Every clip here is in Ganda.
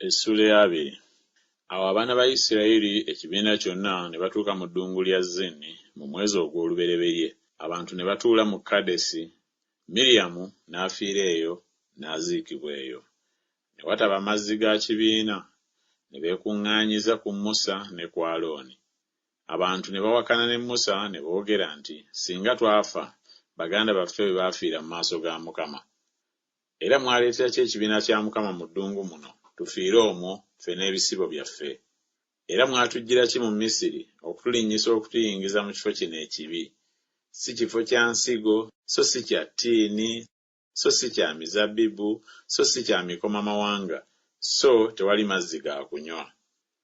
Essuula eya abiri. Awo abaana ba Isiraeri ekibiina kyonna ne batuuka mu ddungu lya Zini mu mwezi ogw'olubereberye, abantu ne batuula mu Kadesi, Miryamu n'afiira eyo, n'aziikibwa eyo. Ne wataba mazzi ga kibiina, ne beekuŋŋaanyiza ku Musa ne ku Alooni. Abantu ne bawakana ne Musa ne boogera nti, Singa twafa, baganda baffe bwe baafiira mu maaso ga Mukama! Era mwaleetera ki ekibiina kya Mukama mu ddungu muno, tufiire omwo, ffe n'ebisibo byaffe? Era mwatujjira ki mu Misiri, okutulinnyisa okutuyingiza mu kifo kino ekibi? Si kifo kya nsigo, so si kya ttiini, so si kya mizabbibu, so si kya mikomamawanga, so tewali mazzi ga kunywa.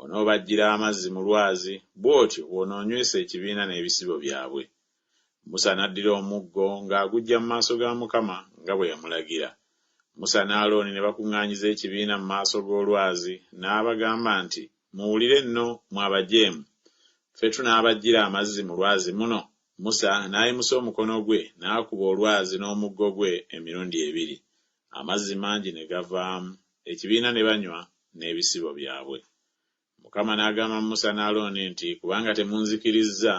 Onoobaggyira amazzi mu lwazi, bw'otyo bw'onoonywesa ekibiina n'ebisibo byabwe. Musa n'addira omuggo ng'aguggya mu maaso ga Mukama nga bwe yamulagira. Musa ne Alooni ne bakuŋŋaanyiza ekibiina mu maaso g'olwazi, n'abagamba nti, Muwulire nno, mmwe abajeemu! Ffe tunaabaggyira amazzi mu lwazi muno? Musa n'ayimusa omukono gwe n'akuba olwazi n'omuggo gwe emirundi ebiri, amazzi mangi ne gavaamu. ekibiina ne banywa n'ebisibo byabwe. Mukama n'agamba Musa ne Alooni nti, Kubanga temunzikirizza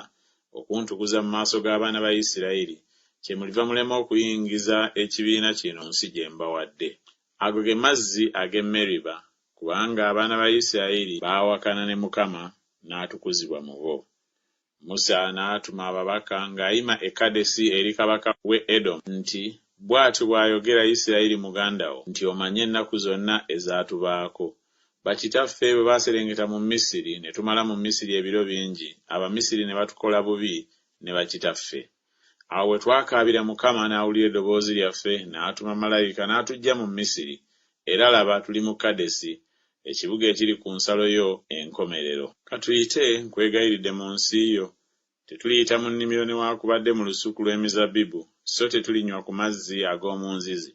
okuntukuza mu maaso g'abaana ba Isirayiri, kyemuliva mulema okuyingiza ekibiina kino nsi gye mbawadde. Ago ge mazzi ag'e Meriba, kubanga abaana ba Isirayiri baawakana ne Mukama n'atukuzibwa mu bo. Musa n'atuma ababaka ng'ayima e Kadesi eri kabaka w'e Edomu nti, Bw'atyo bw'ayogera Isirayiri muganda wo nti, Omanyi ennaku zonna ezaatubaako. Bakitaffe bwe baaserengeta mu Misiri, ne tumala mu Misiri ebiro bingi, Abamisiri ne batukola bubi ne bakitaffe. Awo we twakaabira Mukama, n'awulira eddoboozi lyaffe, n'atuma malayika, n'atuggya mu Misiri, era laba, tuli mu Kadesi, ekibuga ekiri ku nsalo yo enkomerero. Ka tuyite, nkwegayiridde, mu nsi yo. Tetuliyita mu nnimiro newaakubadde mu lusuku lw'emizabbibu, so tetulinywa ku mazzi ag'omu nzizi.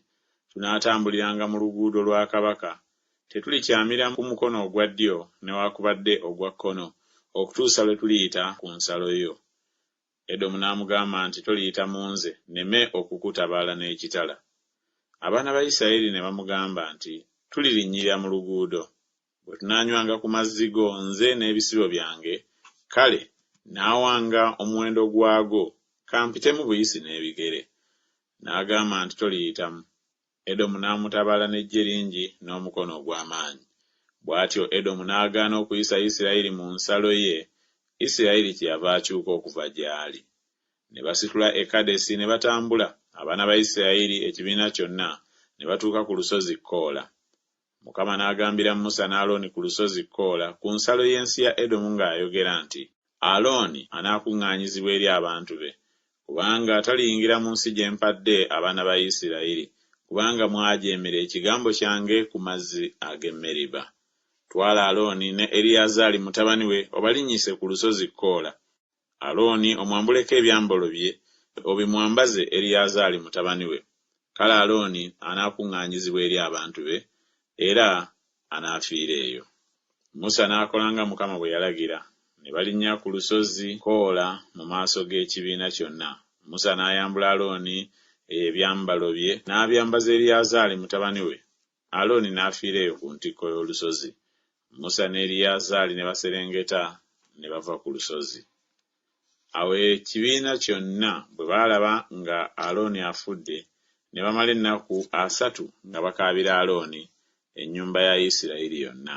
Tunaatambuliranga mu luguudo lwa kabaka. Tetulikyamira ku mukono ogwa ddyo newaakubadde ogwa kkono, okutuusa lwe tuliyita ku nsalo yo. Edomu n'amugamba nti, Toliyita mu nze, nneme okukutabaala n'ekitala. Abaana ba Isiraeri ne bamugamba nti, Tulirinnyirira mu luguudo. Bwe tunaanywanga ku mazzi go, nze n'ebisibo byange, kale nnaawanga omuwendo gwago, ka mpitemu buyisi n'ebigere. N'agamba nti, Toliyitamu. Edomu n'amutabaala n'eggye lingi n'omukono ogw'amaanyi. Bw'atyo Edomu n'agaana okuyisa Isirayiri mu nsalo ye, Isirayiri kyeyava akyuka okuva gy'ali. Ne basitula e Kadesi ne batambula, abaana ba Isirayiri ekibiina kyonna, ne batuuka ku Lusozi Koola. Mukama n'agambira Musa ne Alooni ku lusozi Koola, ku nsalo y'ensi ya Edomu nga ayogera nti, Alooni anaakuŋŋaanyizibwa eri abantu be, kubanga taliyingira mu nsi gye mpadde abaana ba Isirayiri, kubanga mwajeemera ekigambo kyange ku mazzi ag'e Meriba. Twala Alooni ne Eriyazaali mutabani we obalinnyise ku lusozi Koola, Alooni omwambuleko ebyambalo bye, obimwambaze Eriyazaali mutabani we, kale Alooni anaakuŋŋaanyizibwa eri abantu be, era anaafiira eyo. Musa n'akola nga Mukama bwe yalagira, ne balinnya ku lusozi Koola mu maaso g'ekibiina kyonna. Musa n'ayambula Alooni ebyambalo bye, n'abyambaza Eriyazaali mutabani we, Alooni n'afiira eyo ku ntikko y'olusozi, Musa ne Eriyazaali ne baserengeta ne bava ku lusozi. Awo ekibiina kyonna bwe baalaba nga Alooni afudde, ne bamala ennaku asatu nga bakaabira Alooni, ennyumba ya Isirayiri yonna.